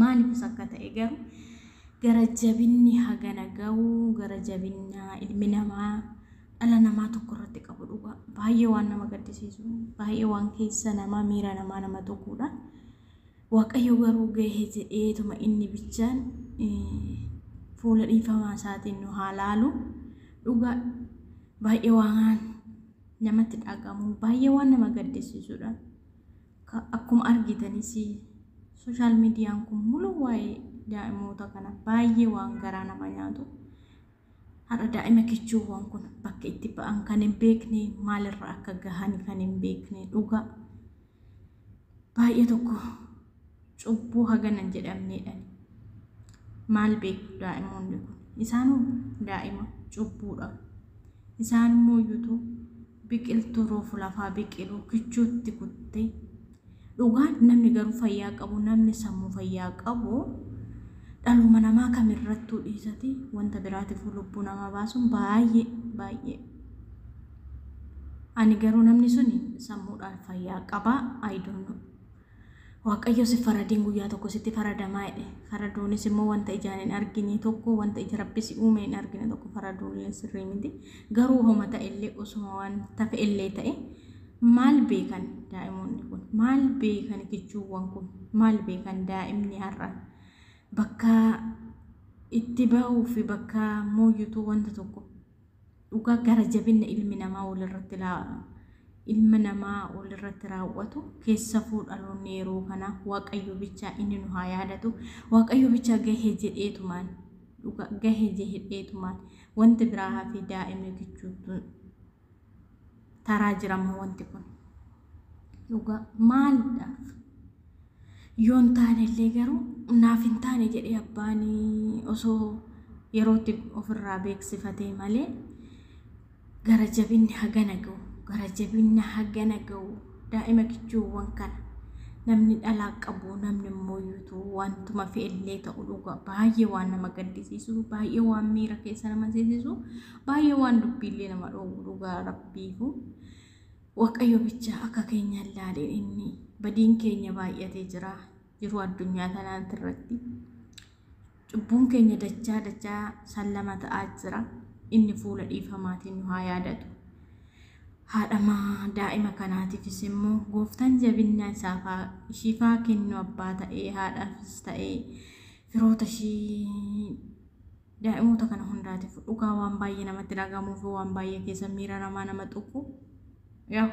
Maalifis akka ta'e garuu gara jabinni hagana ga'u gara jabinna ilmi namaa dhala namaa tokko irratti qabu dhugaa baay'ee waan nama gaddisiisu baay'ee waan keessa namaa miira namaa nama tuquudha. Waaqayyo garuu gahee jedheetuma inni bichaan fuula dhiifamaa isaatiin nu haa laalu dhugaa baay'ee waan namatti dhagahamu baay'ee waan nama gaddisiisudha. Ka- Akkuma argitanis sooshaal miidiyaan kun muluu waa'ee daa'imoota kana baay'ee waan garaa nama nyaatu. Har'a daa'ima kichuuwwan kun bakka itti ba'an kan hin beekne maalirra akka gahan kan hin beekne dhugaa. Baay'ee tokko cubbuu hagana hin jedhamneedhan maal beeku daa'imoonni kun isaanuu daa'ima cubbuudha isaan immoo iyyutu biqiltuu roofu lafaa biqiluu kichuutti kuttee dhugaan namni garuu fayyaa qabu namni sammuu fayyaa qabu dhaluma namaa kamirrattuu dhiisati wanta biraatiif lubbuu namaa baasuun baay'ee baay'ee ani garuu namni suni sammuudhaan fayyaa qabaa ayidoonnu Waaqayyos hin faradin guyyaa tokko sitti faradamaa jedhe. Faraduunis immoo wanta ijaan hin argine tokko wanta ija rabbi si uume hin argine tokko faraduullee sirrii miti. Garuu homa ta'ellee osuma waan tafe illee ta'e maal beekan daa'imoonni kun maal beekan kichuuwwan kun maal beekan daa'imni har'a bakka itti ba'uu fi bakka mooyyutuu wanta tokko Dhugaa gara jabinna ilmi namaa walirratti ilma namaa walirratti raawwatu keessafuu dhaloonni yeroo kanaa waaqayyo bichaa inni nu haa yaadatu waaqayyo bichaa gahee jedheetumaan dhugaa gahee jedheetumaan wanti biraa hafee daa'imni kichuutu taraa jira ammoo wanti kun dhugaa maalidhaaf yoo hin taane illee garuu naaf hin taane jedhee abbaan osoo yerootti ofirraa beeksifatee malee gara jabinni hagana ga'u gara jabinna hagana ga'u daa'ima kichuuwwan kana namni dhalaa qabu namni immoo yuutu wantuma fe'ellee ta'u dhugaa baay'ee waan nama gaddisiisu baay'ee waan miira keessa nama seesisu Baay'ee waan dubbiillee nama dhoowwu dhugaa rabbiifu waaqayyo bichaa akka keenya ilaalee inni badiin keenya baay'atee jira jiruu addunyaa tanaatti irratti cubbuun keenya dachaa dachaa sallama ta'aa jira inni fuula dhiifamaatiin nu haa yaadatu haadhama daa'ima kanaatiifis immoo gooftaan jabinna isaaf haa- ishiif haa kennu abbaa ta'ee haadhaafis ta'ee firoota ishii Daa'imoota kana hundaatifu dhugaa waan baay'ee namatti dhagahamuu fi waan baay'ee keessa miira namaa nama tuqu yaa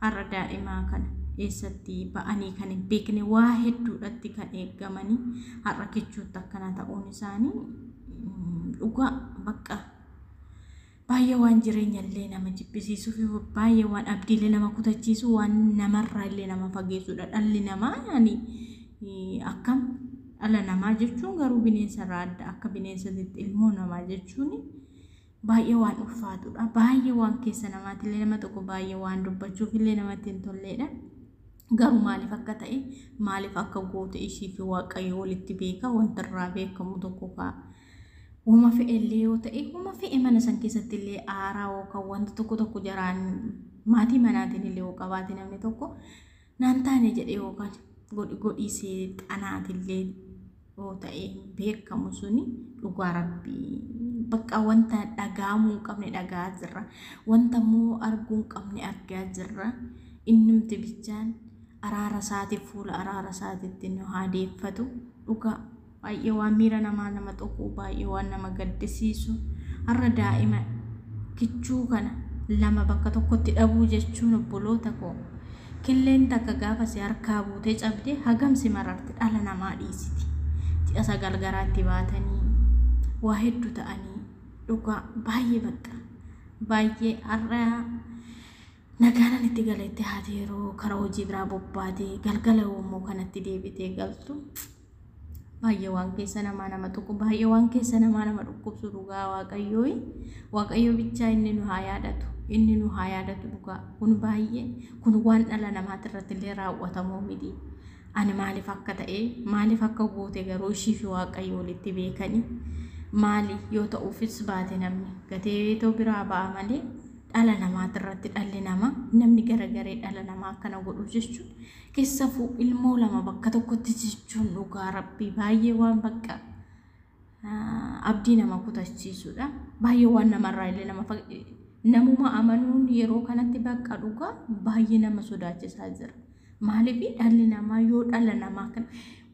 har'a daa'imaa kana eessatti ba'anii kan hin beekne waa hedduudhatti kan eeggamanii har'a kichuutti akkana ta'uun isaanii dhugaa bakka Baay'ee waan jireenya illee nama jibbisiisuu fi baay'ee waan abdii illee nama kutachiisu waan namarraa illee nama fageessuudha. Dhalli namaa yaani akkam dhala namaa jechuun garuu bineensa irraa adda akka bineensatitti ilmoo namaa jechuun baay'ee waan ulfaatudha. Baay'ee waan keessa namaatti illee nama tokko baay'ee waan dubbachuuf illee namatti hin tolleedha. Garuu maaliif akka ta'e maaliif akka goote ishii fi waaqayyo walitti beeka wanta irraa beekamu tokko ka'a. Woma fe'e illee yoo ta'e, woma fe'e mana san keessatti illee aaraa yookaan wanti tokko tokko jaraan maatii manaatiin illee yoo qabaate namni tokko naan taane jedhee yookaan godhi godhii seexanaatiin illee yoo ta'e beekamu suni dhugaa rabbii bakka wanta dhagahamuu hin qabne dhagahaa jirra wanta immoo arguu hin qabne argaa jirra innumti bichaan araara isaatiif fuula araara isaatiitti nu haa deeffatu dhugaa Baay'ee waan miira namaa nama tuqu, baay'ee waan nama gaddisiisu. Har'a daa'ima kichuu kana lama bakka tokkotti dhabuu jechuun obboloota koo killeen takka gaafa si harkaa buutee cabdee hagam si mararti dhala namaa dhiisiti. Ji'a sagal garaatti baatanii waa hedduu ta'anii dhugaa baay'ee bakka baay'ee har'a nagaanan itti galeetti haati yeroo karaa hojii biraa bobbaatee galgala yommuu kanatti deebitee galtu. baay'ee waan keessa namaa nama tuqu baay'ee waan keessa namaa nama dhukkubsu dhugaa waaqayyoo waaqayyoo bichaa inni nu haa yaadatu inni nu haa yaadatu dhugaa kun baay'ee kun waan dhala namaati irratti illee raawwatamoo miti ani maaliif akka ta'e maaliif akka goote garuu ishii fi waaqayyo walitti beekani maali yoo ta'uufis baate namni gateetoo biraa ba'a malee dhala namaati irratti dhalli namaa namni garagaree dhala namaa akkana godhu jechuun Kessafu ilmoo lama bakka tokkotti jechuun dhugaa rabbii baay'ee waan bakka abdii nama kutachiisudha. Baay'ee waan namarraa illee nama namuma amanuun yeroo kanatti bakka dhugaa baay'ee nama sodaachisaa jira. Maaliif dhalli namaa yoo dhala namaa kan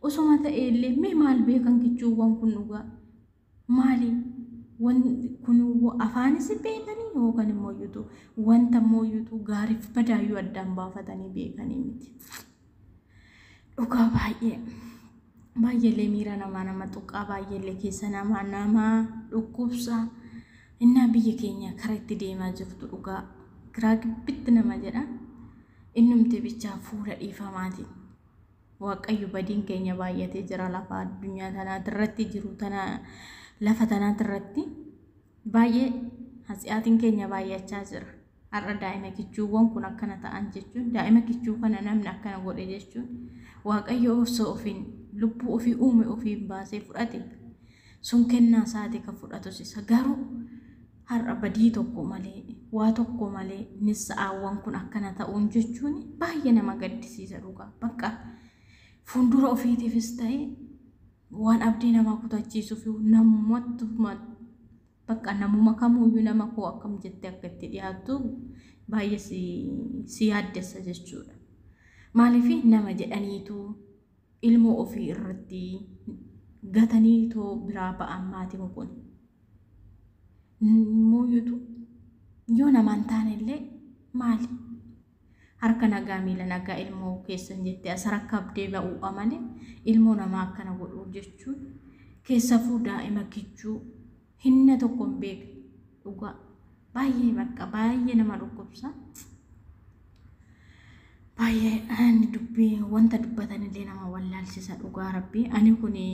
osoma ta'e illee mee maal beekan kichuuwwan kun dhugaa Maali wan kun afaanis hin beekanii yookaan immoo iyyutu wanta immoo iyyutu gaariif badaayyuu addaan baafatanii beekanii miti. Dhugaa baay'ee baay'eelee miira namaa nama tuqaa baay'eelee keessa namaa nama dhukkubsa innaa biyya keenya kara itti deemaa jirtu dhugaa giraa gibbitti nama jedha innumti bichaa fuula dhiifamaatiin. Waaqayyo badiin keenya baay'atee jira lafa addunyaa tanaatirratti jiru tana lafa tanaatirratti baay'ee hatsi'aatiin keenya baay'achaa jira. Har'a daa'ima kichuuwwan kun akkana ta'an jechuun daa'ima kichuu kana namni akkana godhe jechuun Waaqayyo osoo ofiin lubbuu ofii uume ofiin baasee fudhate sun kennaa isaati kan fudhatus isa garuu Har'a badii tokko malee, waa tokko malee nissa'aawwan kun akkana ta'uun jechuun baay'ee nama gaddisiisa dhugaa. Bakka fuuldura ofiitiifis ta'e waan abdii namaa kutachiisuuf namumatti bakka namuma kamuyyuu nama koo akkam jettee akka itti dhiyaattu baay'ee si yaaddessa jechuudha. Maaliif nama jedhaniitu ilmoo ofii irratti gatanii too biraa ba'an maatiin kun mooyutu yoo namaan taane illee maali harka nagaa miila nagaa ilmoo keessan jettee as harka abdee ba'uu amale ilmoo namaa akkana godhuu jechuun keessafuu daa'ima kichuu hinna tokko hin beekne dhugaa baay'ee bakka baay'ee nama dhukkubsa baay'ee ani dubbii wanta dubbatanillee nama wallaalsisa dhugaa rabbii ani kuni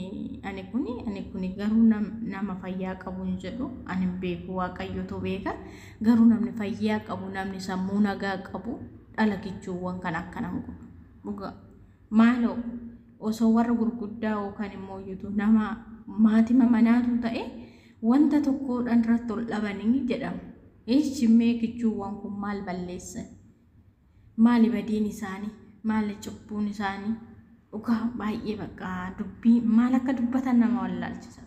ani kuni ani kuni garuu nam- nama fayyaa qabu hin jedhu ani hin beeku waaqayyotu beeka garuu namni fayyaa qabu namni sammuu nagaa qabu dhala kichuuwwan kan akkana hin godhu dhugaa Maaloo osoo warra gurguddaa yookaan immoo yutu nama maatima manaatuu ta'e wanta tokkoodhaan irratti ol dhabanii jedhamu. Eeshi mee kichuuwwan kun maal balleessan? Maali badiin isaanii? Maali cubbuun isaanii? Dhugaa baay'ee bakka dubbii maal akka dubbatan nama wallaalchisa.